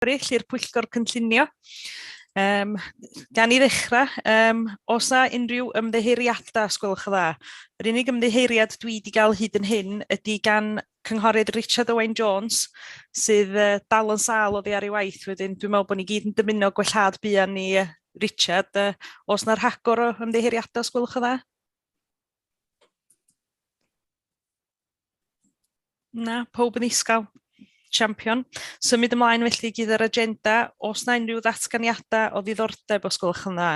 eraill i'r Pwyllgor Cynllunio. Um, gan i ddechrau, um, os na unrhyw ymddeheiriadau, os gwelwch yn dda. Yr unig ymddeheiriad dwi wedi cael hyd yn hyn ydy gan cynghorydd Richard Owen Jones, sydd uh, dal yn sal oddi ar ei waith wedyn. Dwi'n meddwl bod ni gyd yn dymuno gwellhad buan ni uh, Richard. Uh, os na rhagor o ymddeheiriadau, os gwelwch yn dda? Na, pob yn isgal. Champion. Symud ymlaen felly gyda'r yr agenda. Os na unrhyw ddatganiadau o ddiddordeb os gwelwch yn dda?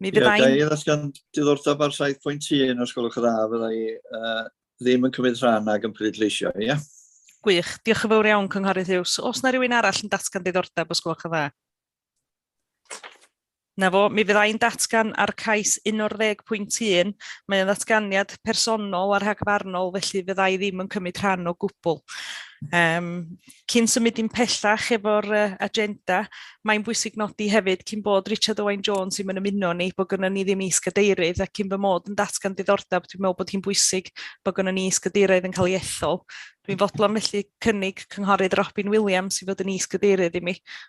Mi fyddai'n... Ie, da i ddatgan diddordeb ar 7.1 os gwelwch yn dda, fydda i uh, ddim yn cymryd rhan ag yn pleidleisio, ie? Yeah? Gwych. Diolch yn fawr iawn, Cynghorydd Hughes. Os na rhywun arall yn datgan diddordeb os gwelwch yn dda? Na fo, mi fydda i'n datgan ar cais 11.1, mae o'n ddatganiad personol a rhagfarnol, felly fydda i ddim yn cymryd rhan o gwbl. Um, cyn symud i'n pellach efo'r uh, agenda, mae'n bwysig nodi hefyd cyn bod Richard Owen Jones i'n ymuno ni, bod gynnu ni ddim is-gadeirydd, ac cyn fy mod yn datgan diddordeb, dwi'n meddwl bod hi'n bwysig bod gynnu ni is-gadeirydd yn cael ei ethol. Dwi'n fodlon felly cynnig cynghorydd Robin Williams i fod yn is-gadeirydd i mi.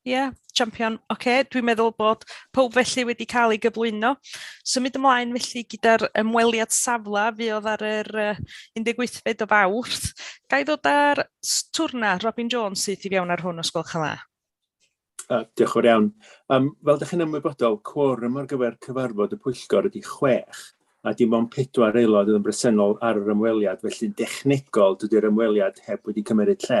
Ie, yeah, champion. Oce, okay, dwi'n meddwl bod pob felly wedi cael ei gyflwyno. Symud ymlaen felly gyda'r ymweliad safle fi oedd ar yr 18fed o fawrth. Gai ddod ar twrna Robin Jones sydd i fewn ar hwn os gwelwch yn dda? Uh, diolch o'r iawn. Um, fel ydych chi'n ymwybodol, cworym ar gyfer cyfarfod y pwyllgor ydy chwech, a dim ond pedwar aelod yn bresennol ar yr ymweliad, felly'n dechnegol dydy'r ymweliad heb wedi cymryd lle.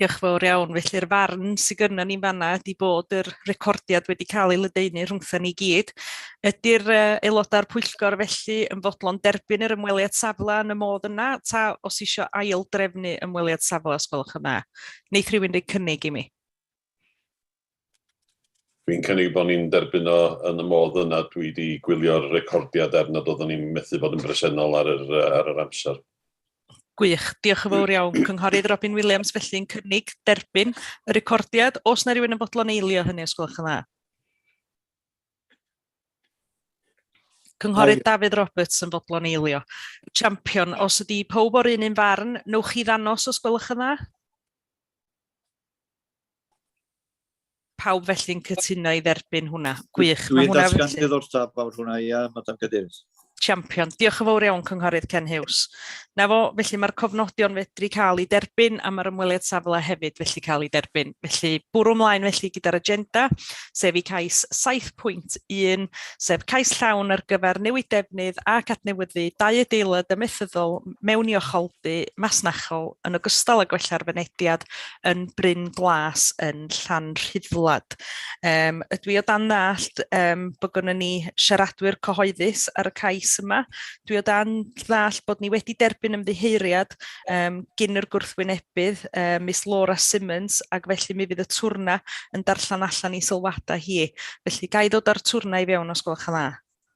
Diolch fawr iawn. Felly'r farn sydd gynnon ni'n fanna ydy bod yr recordiad wedi cael ei ledaenu rhwngtha ni gyd. Ydy'r uh, aelodau'r pwyllgor felly yn fodlon derbyn yr ymweliad safle yn y modd yna, ta os eisiau ail drefnu ymweliad safle, os gwelwch yn dda? Neith rhywun roi cynnig i mi? Dwi'n cynnig bod ni'n derbyn o yn y modd yna. Dwi 'di gwylio'r recordiad er nad oeddwn i'n methu bod yn bresennol ar yr yy ar yr amser. Gwych, diolch yn fawr iawn. Cynghorydd Robin Williams felly'n cynnig derbyn y recordiad. Oes 'na rywun yn fodlon eilio hynny os gwelwch yn dda? Cynghorydd Dafydd Roberts yn fodlon eilio. Champion, os ydy pawb o'r un un farn, newch chi ddanos os gwelwch yn dda? Pawb felly'n cytuno i dderbyn hwnna? Gwych. Dwi'n datgan diddordeb fawr hwnna, ia, Madam Cadeirydd. Champion. Diolch yn fawr iawn, Cynghorydd Ken Hughes. Na fo, felly mae'r cofnodion fedru cael ei derbyn a mae'r ymweliad safle hefyd felly cael ei derbyn. Felly bwrw ymlaen felly gyda'r agenda, sef i cais 7.1, sef cais llawn ar gyfer newid defnydd ac adnewyddu dau adeilad ymethyddol mewn i ocholdy masnachol yn ogystal â gwella'r fynediad yn Bryn Glas yn Llanrhydwlad. Um, ydw i o dan ddallt um, bod gynnu ni siaradwyr cyhoeddus ar y cais yma. Dwi o dan ddallt bod ni wedi derbyn ymddiheuriad um, gyn yr gwrthwynebydd, um, Miss Laura Simmons, ac felly mi fydd y twrna yn darllen allan i sylwadau hi. Felly, gai ddod â'r twrna i fewn os gwelwch yn dda?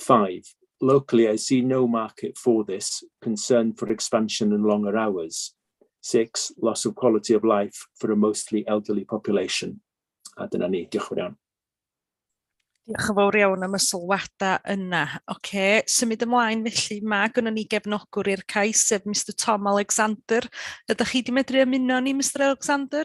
Five, locally I see no market for this, concern for expansion and longer hours. Six, loss of quality of life for a mostly elderly population. A dyna ni, diolch yn iawn. Diolch yn fawr iawn am y sylwadau yna. OK, symud ymlaen felly, mae gynnu ni gefnogwr i'r cais, sef Mr Tom Alexander. Ydych chi wedi medru ymuno ni, Mr Alexander?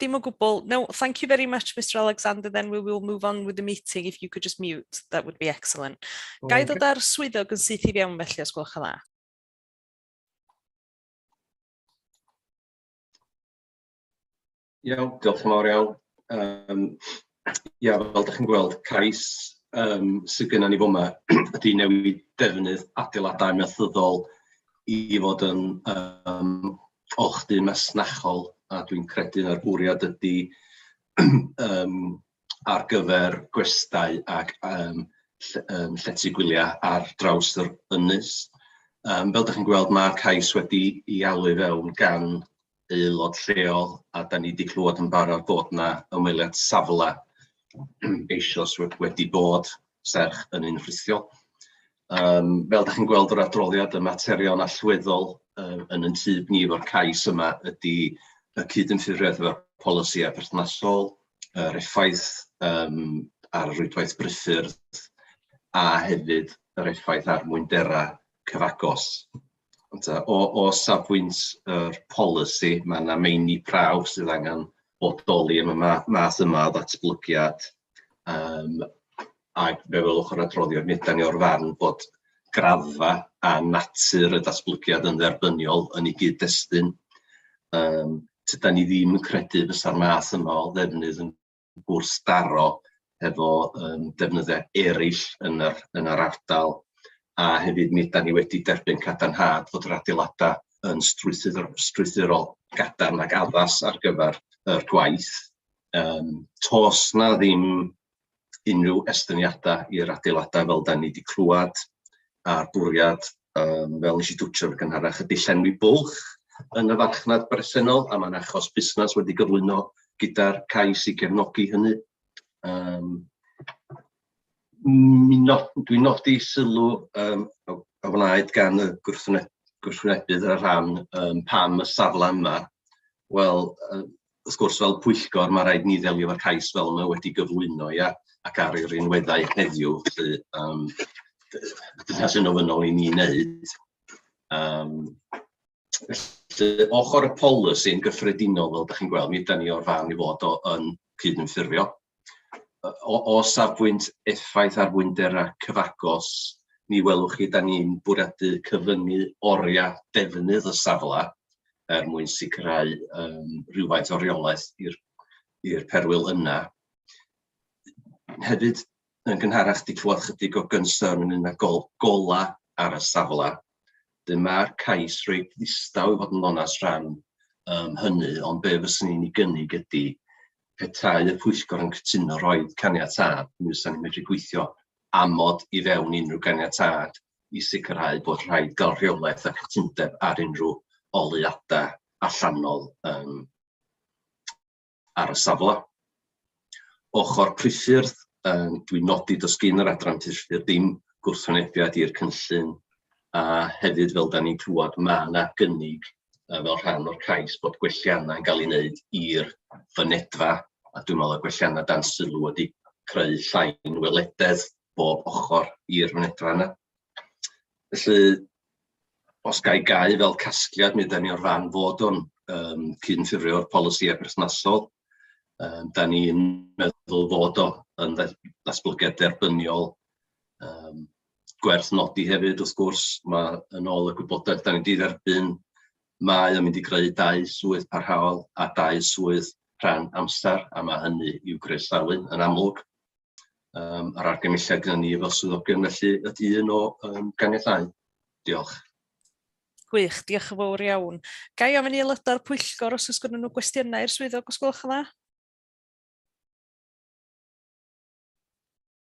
Dim o gwbl. No, thank you very much Mister Alexander then we will move on with the meeting if you could just mute that would be excellent. Gai ddod â'r swyddog yn syth i fewn felly os gwelwch yn dda? Iawn, diolch yn fawr iawn. Yym Ia, fel dach chi'n gweld, cais yym sy gynnon ni fo 'ma ydy newid defnydd adeiladau amaethyddol i fod yn yym olchdy masnachol, a dwi'n credu na'r bwriad ydy yym ar gyfer gwestai ac yym ll- yym llety gwyliau ar draws yr ynys. Yym fel dach chi'n gweld, ma'r cais wedi'i alw i fewn gan... aelod lleol, a dan ni 'di clywed yn barod bod 'na ymweliad safle eisoes wedi bod, serch yn un rhithiol. Yym fel dach chi'n gweld o'r adroddiad, y materion allweddol yy yn ein tyb ni efo'r cais yma ydy y cydymffurfiaeth efo'r polisïau perthnasol, yr effaith yym ar rwydwaith brifyrdd, a hefyd yr effaith ar fwynderau cyfagos. Ond yy o o safbwynt yr polisi, ma' 'na meini prawf sydd angen bodoli yn y ma- math yma o ddatblygiad yym ac fe welwch yr adroddiad, mi ydan ni o'r farn bod graddfa a natur y datblygiad yn dderbyniol yn ei gyd-destun, yym tydan ni ddim yn credu fysa'r math yma o ddefnydd yn... gwrthdaro hefo yym defnyddiau eraill yn yr yn yr ardal, a hefyd mi ydan ni wedi derbyn cadarnhad fod yr adeiladau yn strwythur- strwythurol gadarn ac addas ar gyfer yr gwaith. Yym toes 'na ddim unrhyw estyniadau i'r adeiladau fel dan ni 'di clywed a'r bwriad um, fel nes i dwtio'r gynharach, y dillenwi bwlch yn y farchnad bresennol, a mae'n achos busnes wedi gyflwyno gyda'r cais i gefnogi hynny. Um, Dwi'n nodi sylw um, a wnaed gan y gwrthwynebydd ar rhan um, pam y safle yma. Wel, um, wrth gwrs, fel pwyllgor, mae rhaid ni ddelio efo'r cais fel mae wedi gyflwyno, ia, ac ar ei rinweddau heddiw, felly um, dyna sy'n ofynnol i ni wneud. Um, felly, ochr y polisi'n gyffredinol, fel ydych chi'n gweld, mi ydy ni o'r fan i fod o, yn cyd-ymffurfio o, o safbwynt effaith ar fwynderau cyfagos, mi welwch chi, da ni'n bwriadu cyfyngu oriau defnydd y safle er mwyn sicrhau um, rhywfaint o reolaeth i'r perwyl yna. Hefyd, yn gynharach, di clywed chydig o gynsyrn yn un â gol, gola ar y safle. Dyma'r cais reit ddistaw i fod yn onest rhan um, hynny, ond be fyswn i'n ei gynnig ydy petai y pwyllgor yn cytuno rhoi caniatâd, mi fysa ni'n medru gweithio amod i fewn unrhyw ganiatâd i sicrhau bod rhaid gael rheolaeth a chytundeb ar unrhyw oleuadau allanol um, ar y safle. Ochr priffyrdd, um, dwi'n nodi dos gyn yr adran priffyrdd dim gwrthwynebiad i'r cynllun a hefyd fel da ni'n clywed mae yna gynnig yy fel rhan o'r cais bod gwelliannau yn cael ei wneud i'r fynedfa, a dwi'n meddwl y gwelliannau dan sylw wedi creu llai nwylededd bob ochr i'r fynedfa yna. Felly, os ga i gau fel casgliad, mi ydan ni o'r fan fod o'n um, cynffurfio'r polisïau perthnasol. Um, da ni'n meddwl fod o yn ddatblygiad derbyniol um, gwerth nodi hefyd, wrth gwrs, ma' yn ôl y gwybodaeth 'dan ni 'di dderbyn, mae o'n mynd i greu dau swydd parhaol a dau swydd rhan amser, a ma' hynny i'w groesawu yn amlwg. Yym a'r argymhelliad gyda ni fel swyddogion felly ydy un o yym ganiatáu. Diolch. Gwych, diolch yn fawr iawn. Ga i ofyn i aelodau'r pwyllgor os oes gennyn nhw gwestiynau i'r swyddog os gwelwch yn dda?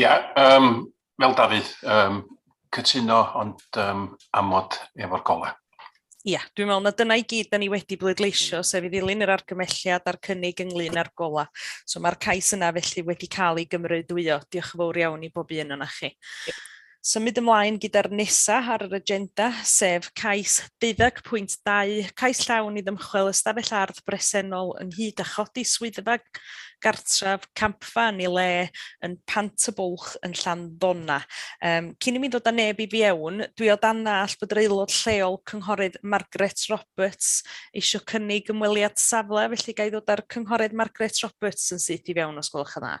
Ia yym fel Dafydd yym cytuno ond yym amod efo'r gola. Ia, dwi'n meddwl na dyna i gyd da ni wedi bleidleisio, sef i ddilyn yr argymelliad a'r cynnig ynglyn â'r gola. So mae'r cais yna felly wedi cael ei gymrydwyo. Diolch yn fawr iawn i bob un o'na chi. Symud ymlaen gyda'r nesa ar yr agenda, sef cais 20.2, cais llawn i ddymchwel ystafell ardd bresennol ynghyd â chodi swyddfa gartref campfa yn ei le yn Pant y Bwlch yn Llanddona. Um, cyn i mi ddod â neb i fiewn, dwi o dan all bod yr aelod lleol Cynghorydd Margaret Roberts eisiau cynnig ymweliad safle, felly ga i ddod â'r Cynghorydd Margaret Roberts yn syth i fewn os gwelwch yn dda.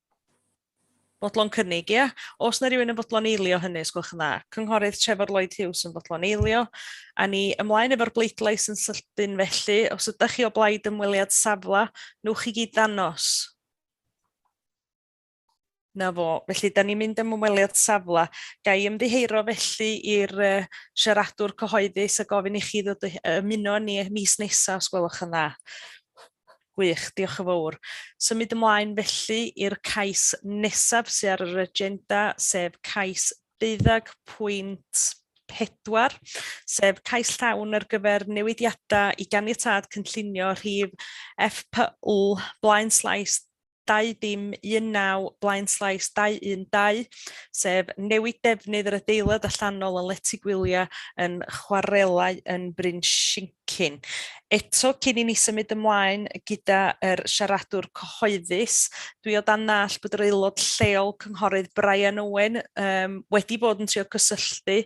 Fodlon cynnig, ia. Os na rhywun yn fodlon eilio hynny, os gwelwch yn dda. Cynghorydd Trefor Lloyd Hughes yn fodlon eilio. A ni ymlaen efo'r bleidlais yn sydyn felly. Os ydych chi o blaid ymweliad safle, newch chi gyd ddangos. Na fo. Felly, da ni'n mynd am ymweliad safle. Ga i ymddiheuro felly i'r uh, siaradwr cyhoeddus a gofyn i chi ddod ymuno ni mis nesaf, os gwelwch yn dda. Gwych, diolch yn fawr. Symud ymlaen felly i'r cais nesaf sydd ar yr agenda, sef cais deuddeg pwynt pedwar, sef cais llawn ar gyfer newidiadau i ganiatâd cynllunio rhif FPL Blaenslais 2.19 Blaenslais 2.12, sef newid defnydd yr adeilad allanol yn lety gwyliau yn chwarelau yn Bryn Shincin. Eto, cyn i ni symud ymlaen gyda'r siaradwr cyhoeddus, dwi o dan ddall bod yr aelod lleol Cynghorydd Brian Owen um, wedi bod yn trio cysylltu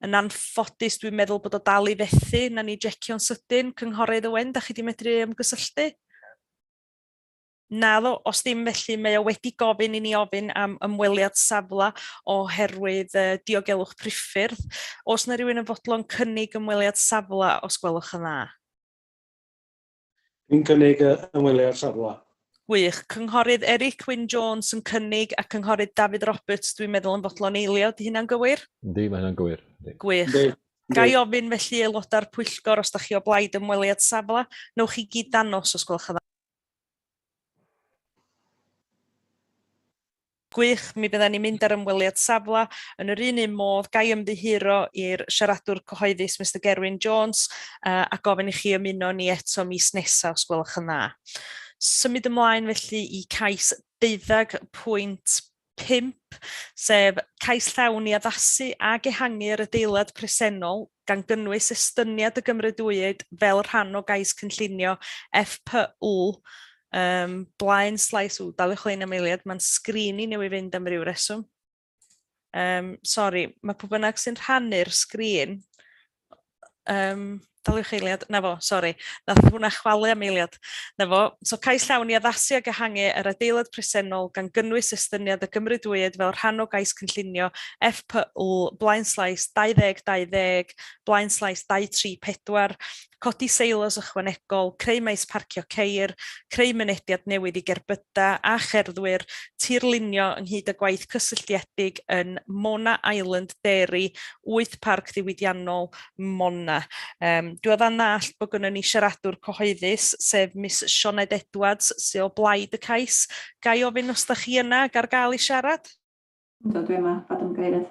yn anffodus dwi'n meddwl bod o dal i fethu, na ni jecio'n sydyn, Cynghorydd Owen, da chi wedi medru ymgysylltu? Naddo, os ddim felly mae o wedi gofyn i ni ofyn am ymweliad safle oherwydd uh, diogelwch priffyrdd. Os na rhywun yn fodlon cynnig ymweliad safle os gwelwch yn dda. Dwi'n cynnig uh, ymweliad safle. Gwych. Cynghorydd Eric Wyn Jones yn cynnig a Cynghorydd David Roberts dwi'n meddwl yn fodlon eilio. Di hynna'n gywir? Yndi, mae hynna'n gywir. Gwych. Yndi. Gai ofyn felly aelodau'r pwyllgor os da chi o blaid ymweliad safle, newch chi gyd danos os gwelwch yn dda. Gwych, mi fyddan ni'n mynd ar ymweliad safle yn yr un un modd, ga i ymddiheuro i'r siaradwr cyhoeddus Mister Gerwyn Jones a gofyn i chi ymuno â ni eto mis nesa os gwelwch yn dda. Symud ymlaen felly i cais deuddag pwynt pump, sef cais llawn i addasu ac ehangu yr adeilad presennol, gan gynnwys estyniad y gymrydwyd fel rhan o gais cynllunio FPU, um, blaen slais w, daliwch lein am eiliad, mae'n sgrin i newydd fynd am ryw reswm. Um, sorry, mae pwy bynnag sy'n rhannu'r sgrin, Yym, daliwch eiliad. 'na fo, sori, nath hwnna chwalu am eiliad. 'na fo. So, cais llawn i addasu ac ehangu yr adeilad presennol, gan gynnwys estyniad y gymrydwyd fel rhan o gais cynllunio FPL, blaenslais, 2020, blaenslais, 234, codi seilos ychwanegol, creu maes parcio ceir, creu mynediad newydd i gerbydau, Canada a cherddwyr tirlunio ynghyd â gwaith cysylltiedig yn Mona Island Dairy, wyth Parc Ddiwydiannol Mona. Yym, dwi o ddan ddallt bod gynnon ni siaradwr cyhoeddus, sef Miss Sioned Edwards, sy o blaid y cais. Ga i ofyn os da chi yna ac ar gael i siarad? Yndw, dwi yma, Fad Ymgeirydd.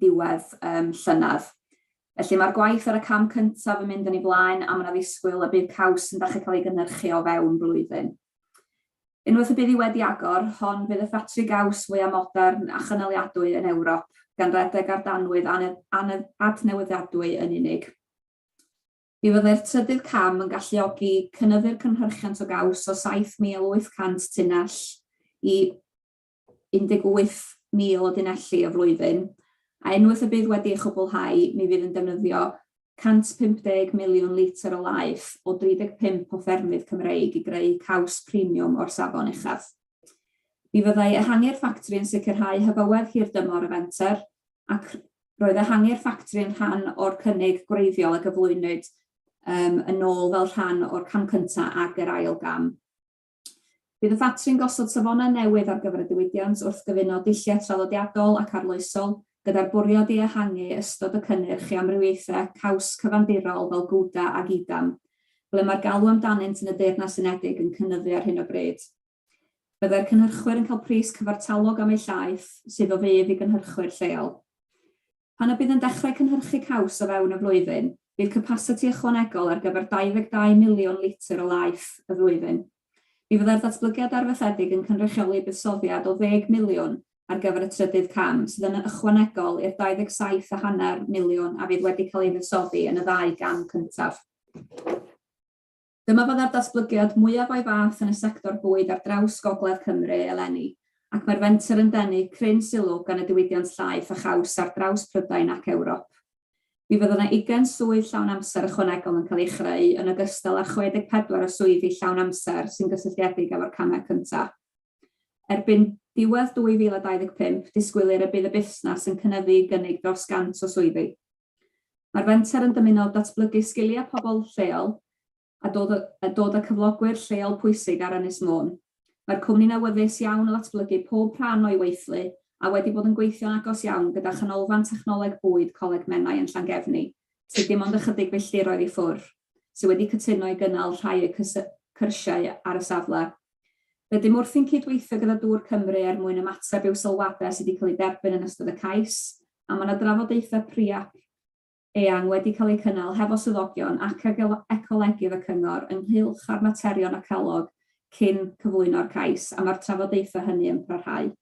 diwedd um, llynedd. Felly mae'r gwaith ar y cam cyntaf yn mynd yn ei blaen a mae'n addisgwyl y bydd caws yn dechrau cael ei gynnyrchu o fewn blwyddyn. Unwaith y bydd hi wedi agor, hon fydd y ffatri gaws fwyaf modern a chynaliadwy yn Ewrop, gan redeg ar danwydd adnewyddiadwy yn unig. Mi fyddai'r trydydd cam yn galluogi cynyddu'r cynhyrchiant o gaws o 7,800 tunnell i 18,000 o dunelli y flwyddyn, a unwaith y bydd wedi ei chwblhau, mi fydd yn defnyddio 150 miliwn litr o laeth o 35 o ffermydd Cymreig i greu caws premiwm o'r safon uchaf. Mi fyddai ehangu'r ffatri yn sicrhau hyfywedd hirdymor y fenter, ac roedd ehangu'r ffatri yn rhan o'r cynnig gwreiddiol a gyflwynwyd yn ôl fel rhan o'r cam cyntaf ac yr ail gam. Bydd y ffatri'n gosod safonau newydd ar gyfer y diwydiant wrth gyfuno dulliau traddodiadol ac arloesol, gyda'r bwriad i ehangu ystod y cynnyrch i amrywiaethau caws cyfandirol fel Gouda ac Edam, ble mae'r galw amdanynt yn y Deyrnas Unedig yn cynyddu ar hyn o bryd. Byddai'r cynhyrchwyr yn cael pris cyfartalog am eu llaeth, sydd o fudd i gynhyrchwyr lleol. Pan y bydd yn dechrau cynhyrchu caws o fewn y flwyddyn, bydd capasiti ychwanegol ar gyfer 22 miliwn litr o laeth y flwyddyn. Mi fyddai'r datblygiad arfaethedig yn cynrychioli buddsoddiad o ddeg miliwn ar gyfer y trydydd cam, sydd yn ychwanegol i'r 27 a hanner miliwn a fydd wedi cael ei fuddsoddi yn y ddau gam cyntaf. Dyma fydda'r datblygiad mwyaf o'i fath yn y sector bwyd ar draws gogledd Cymru eleni, ac mae'r fenter yn denu cryn sylw gan y diwydiant llaeth a chaws ar draws Prydain ac Ewrop. Mi fydd yna ugain swydd llawn amser ychwanegol yn cael eu chreu, yn ogystal â 64 o swyddi llawn amser sy'n gysylltiedig efo'r camau cyntaf. Erbyn diwedd 2025, disgwylir y bydd y busnes yn cynyddu i gynnig dros 100 o swyddi. Mae'r fenter yn dymuno datblygu sgiliau pobl lleol a dod a dod â cyflogwyr lleol pwysig ar Ynys Môn. Mae'r cwmni'n awyddus iawn o ddatblygu pob rhan o'i weithlu a wedi bod yn gweithio'n agos iawn gyda Chanolfan Technoleg Bwyd Coleg Menai yn Llangefni, sydd dim ond ychydig filltiroedd i ffwrdd, sydd wedi cytuno i gynnal rhai o'u cyrsiau ar y safle. Rydym wrthi'n cyd-weithio gyda Dŵr Cymru er mwyn ymateb i'w sylwadau sydd wedi cael eu derbyn yn ystod y cais a mae yna drafodaethau pre-ap eang wedi cael eu cynnal hefo swyddogion ac ag ecolegydd y cyngor ynghylch â'r materion a calog cyn cyflwyno'r cais, a mae'r trafodaethau hynny yn parhau.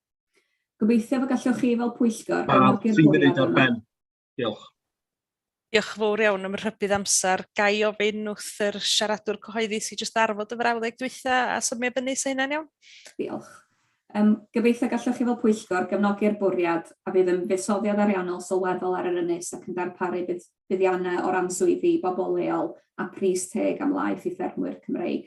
Gobeithiaf y gallwch chi fel pwyllgor gefnogi'r bwriad yma. Diolch. Diolch yn fawr iawn am y rhybudd amser. Ga i ofyn wrth yr siaradwr cyhoeddus i jyst arfod y frawddeg dwytha a symio fyny, 'sa hynna'n iawn? Diolch. Yym, gobeithio gallwch chi fel pwyllgor gefnogi'r bwriad a fydd yn fuddsoddiad ariannol sylweddol ar yr ynys ac yn darparu budd- buddiannau o ran swyddi i bobl leol a pris teg am laeth i ffermwyr Cymreig.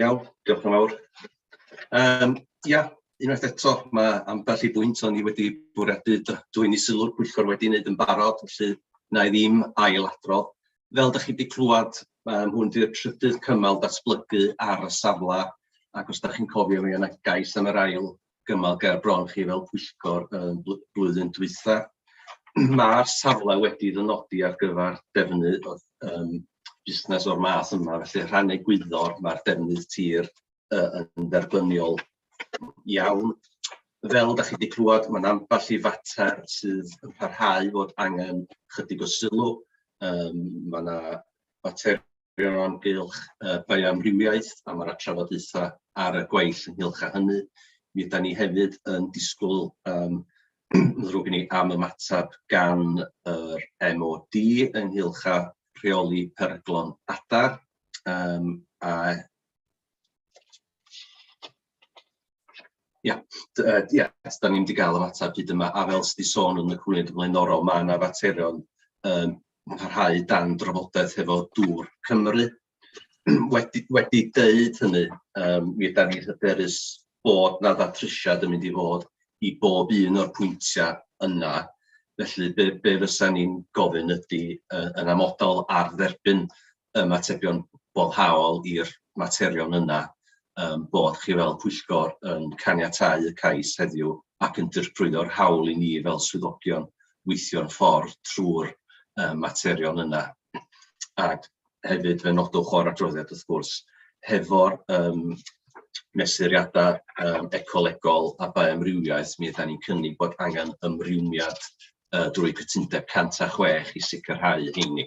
Iawn, diolch yn fawr. Um, ia, unwaith eto, mae ambell i bwynt o'n i wedi bwriadu dwy'n i sylw'r pwyllgor wedi wneud yn barod, felly na i ddim ail adrodd. Fel ydych chi wedi clywed, mae hwn di'r trydydd cymal datblygu ar y safle, ac os ydych chi'n cofio, mi yna gais am yr ail gymal ger bron chi fel pwyllgor yn blwyddyn dwytha. Mae'r safle wedi ddynodi ar gyfer defnydd o um, busnes o'r math yma, felly rhan egwyddor mae'r defnydd tir uh, yn dderbyniol iawn. Fel da chi wedi clywed, mae'n ambell i fater sydd yn parhau fod angen chydig o sylw. Um, mae yna fater Diolch o amgylch y bioamrywiaeth am yr trafodaethau ar y gweill ynghylch â hynny. Mi ydan ni hefyd yn disgwyl yym ddrwg i ni am ymateb gan yr MOD ynghylch â rheoli peryglon adar yym a Ia, d- yy ia, da ni'm 'di gael yr ateb hyd yma, a fel sy' 'di sôn yn y cwniad flaenorol, ma' 'na faterion yn parhau dan drafodaeth hefo dŵr Cymru. Wedi wedi deud hynny, yym mi ydan ni'n hyderus bod 'na ddatrysiad yn mynd i fod i bob un o'r pwyntia' yna, felly be be fysa ni'n gofyn ydi yy yn amodol ar dderbyn ymatebion boddhaol i'r materion yna, ein bod chi fel pwyllgor yn caniatáu y cais heddiw ac yn dirprwyo'r hawl i ni fel swyddogion weithio'n ffordd trwy'r materion yna. Ac hefyd, fe nodwch o'r adroddiad wrth gwrs, hefo'r yym mesuriadau yym ecolegol a bioamrywiaeth, mi ydan ni'n cynnig bod angen ymrwymiad drwy cytundeb 106 i sicrhau heini.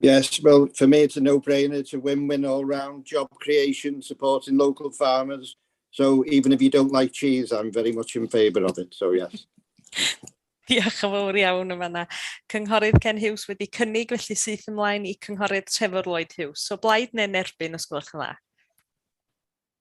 Yes, well, for me it's a no-brainer. It's a win-win all round. Job creation, supporting local farmers. So even if you don't like cheese, I'm very much in favour of it. So yes. Diolch yn fawr iawn yma na. Cynghorydd Ken Hughes wedi cynnig felly syth ymlaen i Cynghorydd Trevor Lloyd Hughes. So blaid neu'n erbyn os gwelwch yn dda?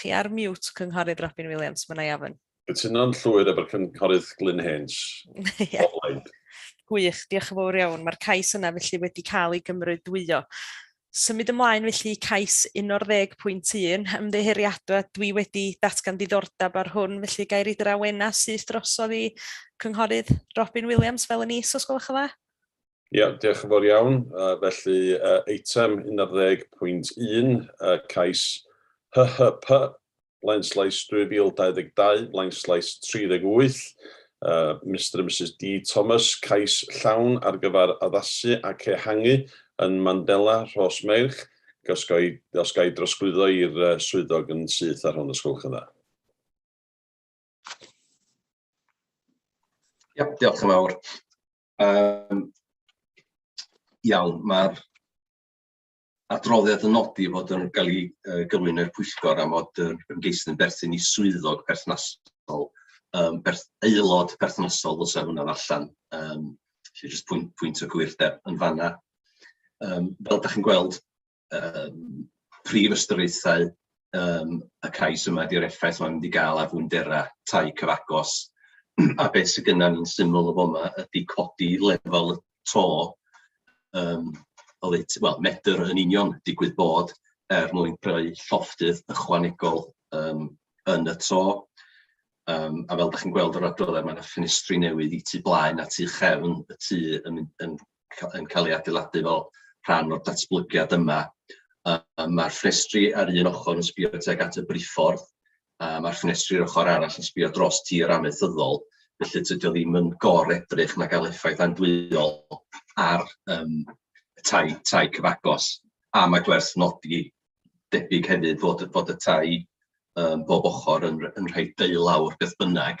Chi ar mute, Cynghorydd Robin Williams, Menai Afon. Cytuno'n llwyr efo'r Cynghorydd Glyn Haines. yeah. Gwych, diolch yn fawr iawn. Mae'r cais yna felly wedi cael ei gymrydwyo. Symud ymlaen felly cais 11.1, ymddeheuriadau, dwi wedi datgan diddordeb ar hwn, felly gair i drawena syth drosodd i Cynghorydd Robin Williams fel yn is, os gwelwch yn dda? Ia, diolch yn fawr iawn. Felly, eitem 11.1, cais HHP, blaenslais 2022, blaenslais 38, Mister a Misus Dee Thomas, cais llawn ar gyfer addasu ac ehangu yn Mandela, Rhosmeirch, os ga i, os ga i drosglwyddo i'r swyddog yn syth ar hwn, os gwelwch yn dda. Ia, diolch yn fawr. Yym, iawn, mae'r adroddiad yn nodi fod yn cael ei uh, gyflwyno i'r pwyllgor am fod yr ymgeisydd yn berthyn i swyddog perthnasol, um, berth, aelod perthnasol ddylse hwnna allan. Um, felly jyst pwynt, pwynt o gwyrdeb yn fanna. Um, fel da chi'n gweld, yym prif ystyriaethau yym y cais yma ydy'r effaith mae'n mynd i gael ar fwynderau tai cyfagos a beth sydd gynna ni'n syml o fa'ma ydy codi lefel y to yym oddeutu- wel medr yn union digwydd bod er mwyn creu llofftydd ychwanegol yym yn y to yym a fel 'da chi'n gweld yr adroddau mae 'na ffenestri newydd i tu blaen a tu chefn y tŷ yn mynd yn ca- yn cael ei adeiladu fel rhan o'r datblygiad yma. Yy yy ma'r ffenestri ar un ochr yn sbio tuag at y briffordd, a ma'r ffenestri ar ochr arall yn sbio dros tir amaethyddol, felly tydi o ddim yn gor-edrych na gael effaith andwyol ar yym y tai tai cyfagos. A mae gwerth nodi debyg hefyd fod y fod y tai yym bob ochr yn r- yn rhai deulawr beth bynnag,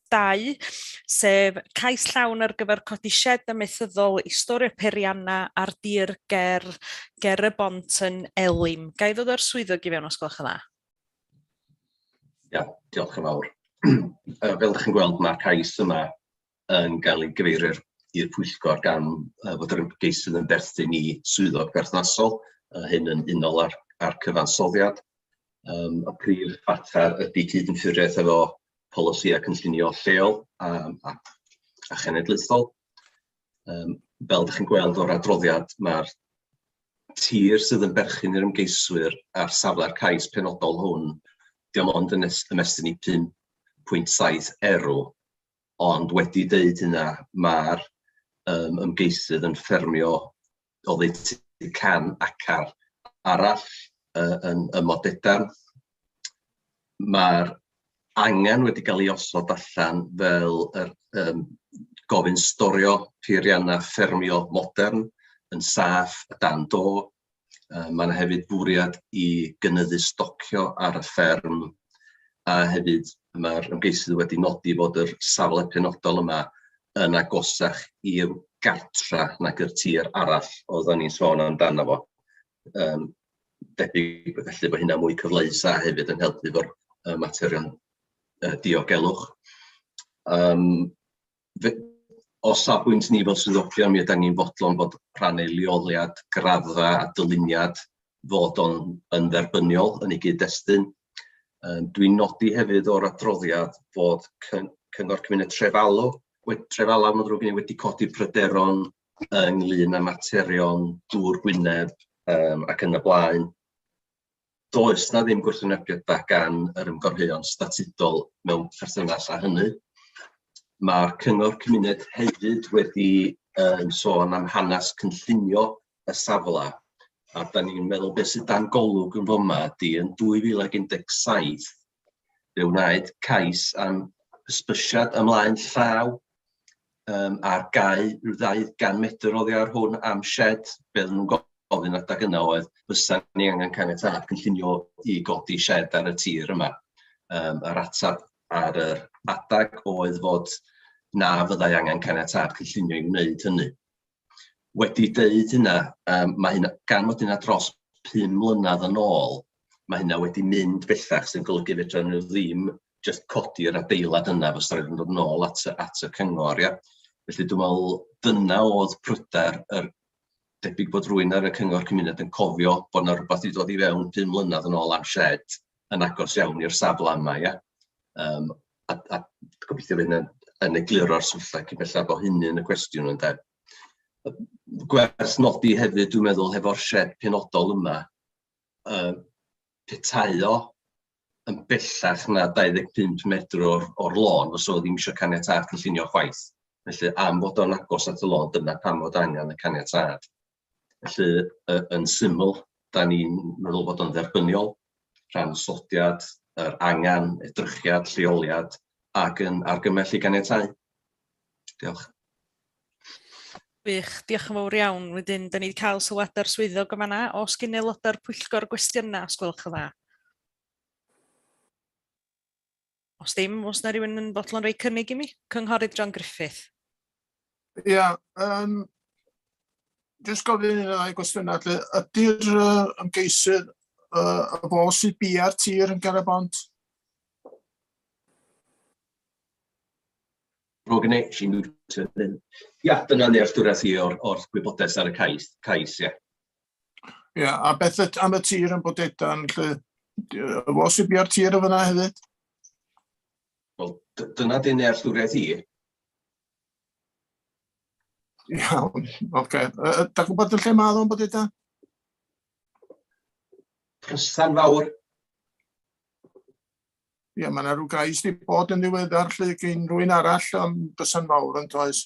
2, sef cais llawn ar gyfer codi sied amaethyddol i storio periannau ar dir ger, ger y bont yn Elim. Ga i ddod o'r swyddog i fewn os gwelwch yn dda? Ia, diolch yn fawr. fel ydych chi'n gweld, mae'r cais yma yn cael ei gyfeirio i'r pwyllgor gan fod yr ymgeisydd yn berthyn i swyddog berthnasol, a hyn yn unol â'r, â'r cyfansoddiad. Um, y prif fater ydy cyd-ynffuriaeth efo polisïau cynllunio lleol a a a chenedlaethol. Yym fel dach chi'n gweld o'r adroddiad, ma'r tir sydd yn berchen i'r ymgeiswyr ar safle'r cais penodol hwn, dim ond yn es- ymestyn i 5.7 erw, ond wedi deud hynna, ma'r yym ymgeisydd yn ffermio oddeutu can acar arall yy yn ym Modedan. Ma'r angen wedi cael ei osod allan fel yr yym gofyn storio peiriannau ffermio modern yn saff a dan do. Yy mae 'na hefyd fwriad i gynyddu stocio ar y fferm a hefyd ma'r ymgeisydd wedi nodi fod yr safle penodol yma yn agosach i'r gartre nag y tir arall oedden ni'n sôn amdano fo. Yym debyg felly bod hynna'n mwy cyfleus a hefyd yn helpu efo'r materion diogelwch. Yym. fe- o safbwynt ni fel swyddogion, mi ydan ni'n fodlon bod rhan o'i leoliad, graddfa a dyluniad fod o'n yn dderbyniol yn ei gyd-destun. Yym dwi'n nodi hefyd o'r adroddiad bod cyn- Cyngor Cymuned Trefalw we- Trefalaw ma'n ddrwg gen i, wedi codi pryderon ynglŷn â materion dŵr Gwynedd yym ac yn y blaen. does 'na ddim gwrthwynebiadau gan yr ymgorheuon statudol mewn perthynas â hynny. Mae'r cyngor cymuned hefyd wedi um, sôn am hanes cynllunio y safle, a da ni'n meddwl beth sydd dan golwg yn foma ydy yn 2017 Fe wnaed cais am hysbysiad ymlaen llaw um, ar gau rhyw ddau gan medr oddi ar hwn am shed, be oedden nhw'n gofyn adag yna oedd, fysa ni angen caniatad cynllunio i godi shed ar y tir yma. Um, yr ateb ar yr adag oedd fod na fyddai angen caniatad cynllunio i wneud hynny. Wedi deud hynna, yym mae hynna... gan fod hynna dros pum mlynedd yn ôl, mae hynna wedi mynd bellach, sy'n golygu fedra nhw ddim jyst codi'r adeilad yna, fysa raid iddyn nhw ddod yn ôl at y at y cyngor ia. Felly dwi'n meddwl dyna oedd pryder yr... debyg bod rywun ar y cyngor cymuned yn cofio bod 'na rywbeth 'di dod i fewn pum mlynedd yn ôl am sied. yn agos iawn i'r safle yma ia, yym a a gobeithio fydd hynna yn egluro'r syllau cyn belled bo hynny yn y cwestiwn ynde. Gwerth nodi hefyd dwi'n meddwl hefo'r sied penodol yma yy petai o yn bellach na 25 metr o'r o'r lôn fysa fo ddim eisiau caniatâd cynllunio chwaith. Felly am fod o'n agos at y lôn dyna pam fod angen y caniatâd. Felly, yn syml, da ni'n meddwl bod o'n dderbyniol rhan osodiad, yr angen, edrychiad, lleoliad ac yn argymell i ganiatau. Diolch. Wych, diolch yn fawr iawn. Wedyn, da ni wedi cael sylwadau'r swyddog yma na. Os gyn aelodau'r pwyllgor gwestiynau, os gwelwch yn dda. Os ddim, os na rhywun yn fodlon rhoi cynnig i mi? Cynghorydd John Griffith. Ia, yeah, um, jyst gofyn un o'i gwestiynau. Ydy'r uh, ymgeisydd uh, y fo sydd bia'r tir yn Gareth Bont? Rwy'n gwneud chi'n mute. Ia, dyna nealltwriaeth i o'r, or gwybodaeth ar y cais, cais ia. Ia, a beth yd- am y tir yn Bodedan lle? D- yy, Y fos i bia'r tir yn fyna hefyd? Wel, dy- dyna dy nealltwriaeth i. Iawn, oce. Yy, yy, Da gwybod yn lle mae o'n Bodedan? Prystan fawr. Ia, mae yna rhyw gais di bod yn ddiweddar lle gyn rwy'n arall am bysan fawr yn toes.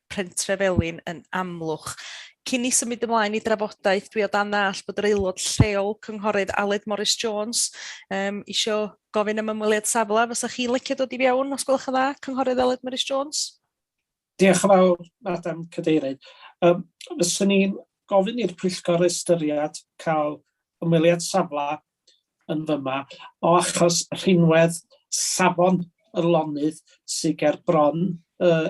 Pentre Felin yn Amlwch. Cyn i symud ymlaen i drafodaeth, dwi o dan ddall bod yr aelod lleol, Cynghorydd Aled Morris Jones, um, isio gofyn am ymweliad safle. Fysa chi'n licio dod i fewn, os gwelwch yn dda, Cynghorydd Aled Morris Jones? Diolch yn fawr, Madam Cadeirydd. Um, Fysa ni'n gofyn i'r pwyllgor ystyried cael ymweliad safle yn fyma o achos rhinwedd safon y lonydd sydd ger bron uh,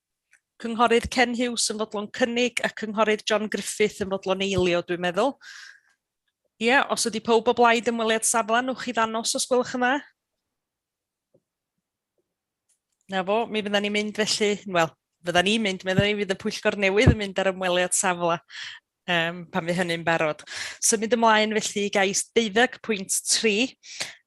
Cynghorydd Ken Huws yn fodlon cynnig a Cynghorydd John Griffith yn fodlon eilio, dwi'n meddwl. Ie, yeah, os ydy pob o blaid ymweliad safle, nwch chi ddanos os gwelwch yn dda. Na fo, mi fydda ni'n mynd felly, wel, fydda ni'n mynd, meddai ni fydd y pwyllgor newydd yn mynd ar ymweliad safle um, pan fi hynny'n barod. Symud ymlaen felly i gais 12.3,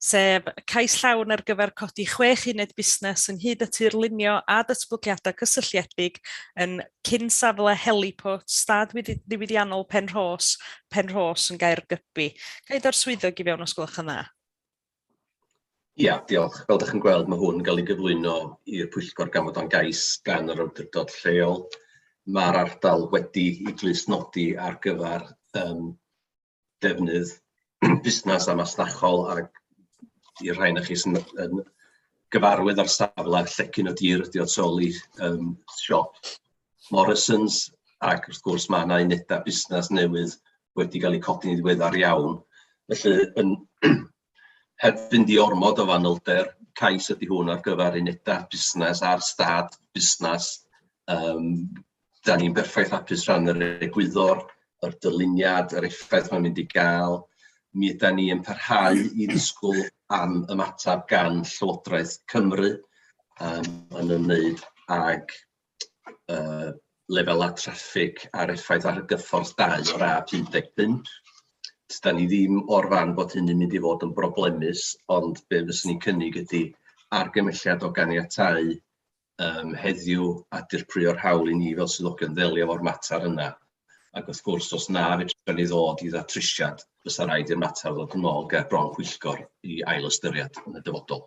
sef cais llawn ar gyfer codi chwech uned busnes ynghyd â tirlunio a datblygiadau cysylltiedig yn cyn safle heliport stad ddiwydiannol Penrhos, Penrhos yn gair gybi. Gael o'r swyddog i fewn os gwelwch yn dda. Ia, diolch. Fel dach chi'n gweld, ma' hwn yn ga'l ei gyflwyno i'r pwyllgor gan fod o'n gais gan yr awdurdod lleol. Ma'r ardal wedi'i glustnodi ar gyfar yym defnydd busnas a masnachol, ac i'r rhai onoch chi sy'n yn gyfarwydd â'r safle, llecyn y tir ydi o tu ôl i yym siop Morrisons, ac wrth gwrs mae yna unedau busnes newydd wedi cael eu codi'n ddiweddar iawn. Felly, yn heb fynd i ormod o fanylder, cais ydy hwn ar gyfer unedau busnes a'r stad busnes. Um, da ni'n berffaith hapus rhan yr egwyddor, yr dyluniad, yr effaith mae'n mynd i gael. Mi yda ni yn parhau i ddisgwyl am ymateb gan Llywodraeth Cymru um, yn ymwneud ag yy lefelau traffig a'r effaith ar gyffordd dau o'r A55, dan ni ddim o'r farn bod hynny'n mynd i fod yn broblemus, ond be fyswn i'n cynnig ydy argymelliad o ganiatáu yym heddiw a dirprwyo'r hawl i ni fel swyddogion ddelio efo'r mater yna, ac wrth gwrs os na fedra ni ddod i ddatrysiad, fysa raid i'r mater ddod yn ôl ger bron pwyllgor i ailystyried yn y dyfodol.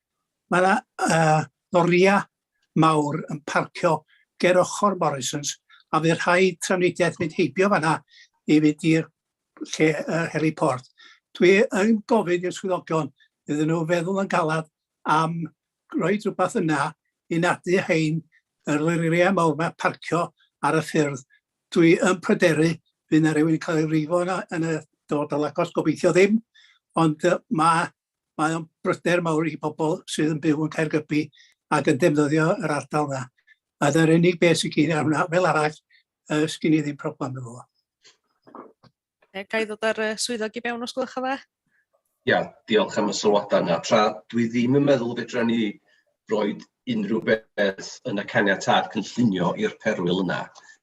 Mae 'na yy loria mawr yn parcio ger ochor Morrisons a fydd rhaid trafnidiaeth mynd heibio fan'na i fynd i'r lle yy heliport. Dwi yn gofyn i'r swyddogion iddyn nhw feddwl yn galad am roi rhywbeth yna i nadu hein yr loria mawr 'ma parcio ar y ffyrdd. Dwi yn pryderu fydd 'na rywun yn cael ei frifo yna yn y dyfodol agos, gobeithio ddim, ond yy ma' mae o'n bryder mawr i bobl sydd yn byw yn Caergybi ac yn defnyddio yr ardal yna. A dyna'r unig beth sy'n gyn ar hwnna. Fel arall, uh, sgyn i ddim problem efo fo. Ga i ddod ar y swyddog i mewn os gwelwch yn dda? Ia, diolch am y sylwadau yna. Tra dwi ddim yn meddwl fedra ni roi unrhyw beth yn y caniatâd cynllunio i'r perwyl yna.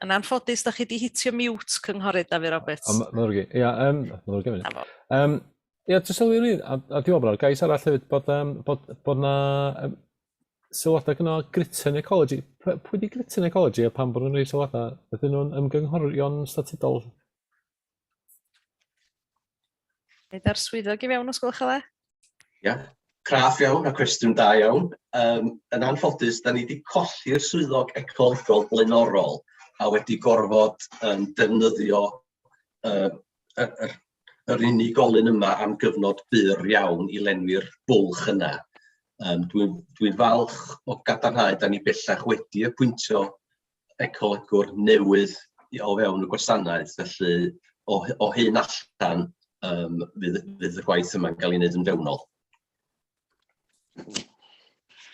Yn anffodus, da chi wedi hitio mute, Cynghorydd Dafydd Roberts. O, mae'n rwy'n Ia, um, mae'n rwy'n mynd. Um, ia, dwi'n sylwi rwy'n, a, a dwi'n meddwl gais arall hefyd, bod, um, bod, bod na um, sylwadau gyno Gritton Ecology. Pwy di Gritton Ecology a pan bod nhw'n rhoi sylwadau? Ydyn nhw'n ymgynghorion statudol? Nid ar swyddog i fewn os gwelwch yn dda. Ia, craff iawn a cwestiwn da iawn. Um, yn anffodus, da ni wedi colli'r swyddog ecolegol blaenorol a wedi gorfod um, defnyddio um, yr, yr, yr unigolyn yma am gyfnod byr iawn i lenwi'r bwlch yna. Um, Dwi'n dwi falch o gadarnhau, da ni bellach wedi apwyntio ecolygwr newydd i o fewn y gwasanaeth, felly o hy- o hyn allan yym fydd fydd y gwaith yma'n cael ei wneud yn fewnol.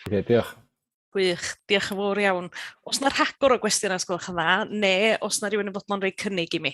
Ie, diolch. Gwych, diolch yn fawr iawn. Os na rhagor o gwestiynau os gwelwch yn dda, neu os na rhywun yn fodlon rhoi cynnig i mi?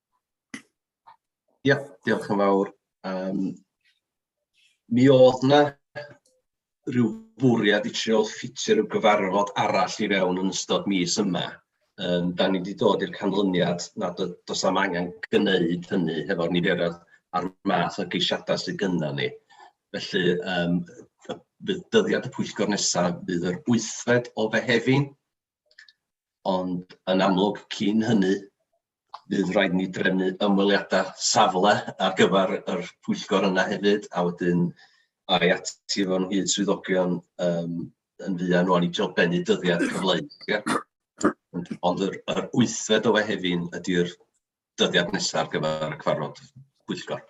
Ia, diolch yn fawr. Yym, mi oedd 'na ryw fwriad i trio ffitio ryw gyfarfod arall i fewn yn ystod mis yma, yym dan ni 'di dod i'r canlyniad nad oes... does na'm angen gneud hynny hefo'r niferoedd a'r math o geisiadau sydd gynnon ni. Felly yym fydd dyddiad y pwyllgor nesaf fydd yr wythfed o Fehefin. Ond yn amlwg, cyn hynny, bydd rhaid ni drefnu ymweliadau safle ar gyfer yr pwyllgor yna hefyd, a wedyn ai at i fo'n hyd swyddogion yym yn fuan rŵan i drio bennu dyddiad cyfleu. Ond yr yr wythfed o Fehefin ydy'r dyddiad nesaf ar gyfer y cyfarfod pwyllgor.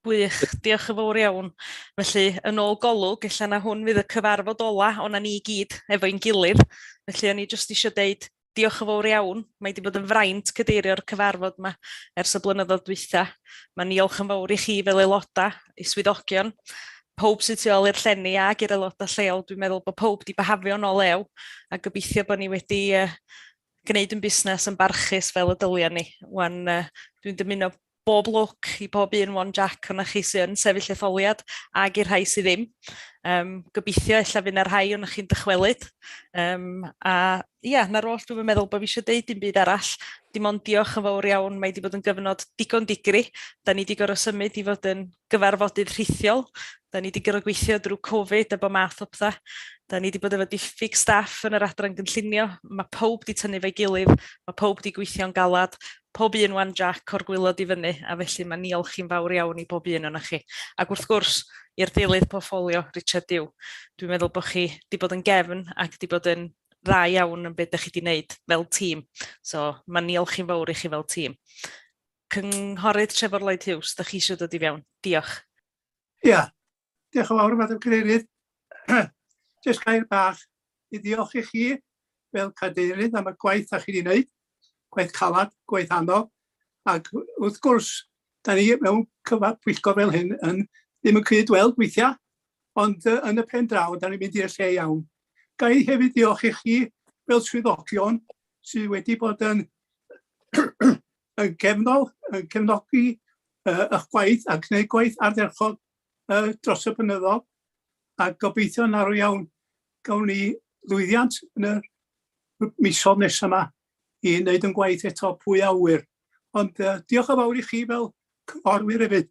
Gwych, diolch yn fawr iawn. Felly, yn ôl golwg, ella na hwn fydd y cyfarfod ola o'na ni i gyd efo'n gilydd. Felly, o'n i jyst eisiau deud diolch yn fawr iawn. Mae wedi bod yn fraint cydeirio'r cyfarfod yma ers y blynyddoedd dwytha. Mae niolch yn fawr i chi fel aelodau, i swyddogion, pob sydd tu ôl i'r llenni ac i'r aelodau lleol. Dwi'n meddwl bod pob wedi byhafio nôl lew a gobeithio bod ni wedi uh, gwneud yn busnes yn barchus fel y dylia ni. Wan, uh, dwi'n dymuno bob lwc i bob un One Jack o'na chi sy'n yn sefyll etholiad ag i'r rhai sydd ddim. Um, gobeithio ella fydd yna rhai o'na chi'n dychwelyd. Um, a ia, yeah, na'r oll dwi'n meddwl bod fi eisiau deud dim byd arall. Dim ond diolch yn fawr iawn, mae wedi bod yn gyfnod digon digri. Da ni wedi gorau symud i fod yn gyfarfodydd rhithiol. Da ni wedi gorfod gweithio drwy Covid a bod math o pethau. Da ni wedi bod efo diffyg staff yn yr adran gynllunio. Mae pob wedi tynnu fe'i gilydd, mae pob wedi gweithio'n galad, pob un wan Jac o'r gwylod i fyny, a felly mae niolch i'n fawr iawn i bob un ohonoch chi. Ac wrth gwrs, i'r deilydd portffolio, Richard Dew. Dwi'n meddwl bod chi wedi bod yn gefn ac wedi bod yn dda iawn yn beth da chi wedi wneud fel tîm. So, mae niolch i'n fawr i chi fel tîm. Cynghorydd Trefor Lloyd Hughes, dych chi eisiau dod i fewn? Diolch. Ia, diolch yn fawr, Madam Cadeirydd. Jyst gair bach i ddiolch i chi fel cadeirydd am y gwaith a chi wedi wneud, gwaith calad, gwaith anodd, ac wrth gwrs, da ni mewn cyfa pwyllgor fel hyn yn ddim yn cyd weld weithiau, ond uh, yn y pen draw, da ni'n mynd i'r lle iawn. Ga i hefyd ddiolch i chi fel swyddogion sydd wedi bod yn yn gefnol, yn cefnogi uh, eich gwaith a gwneud gwaith ardderchog uh, dros y blynyddol a gobeithio yn arw iawn gawn ni lwyddiant yn y misodd nesaf yma i wneud yn gwaith eto pwy awyr. Ond uh, diolch o fawr i chi fel cynghorwyr hefyd.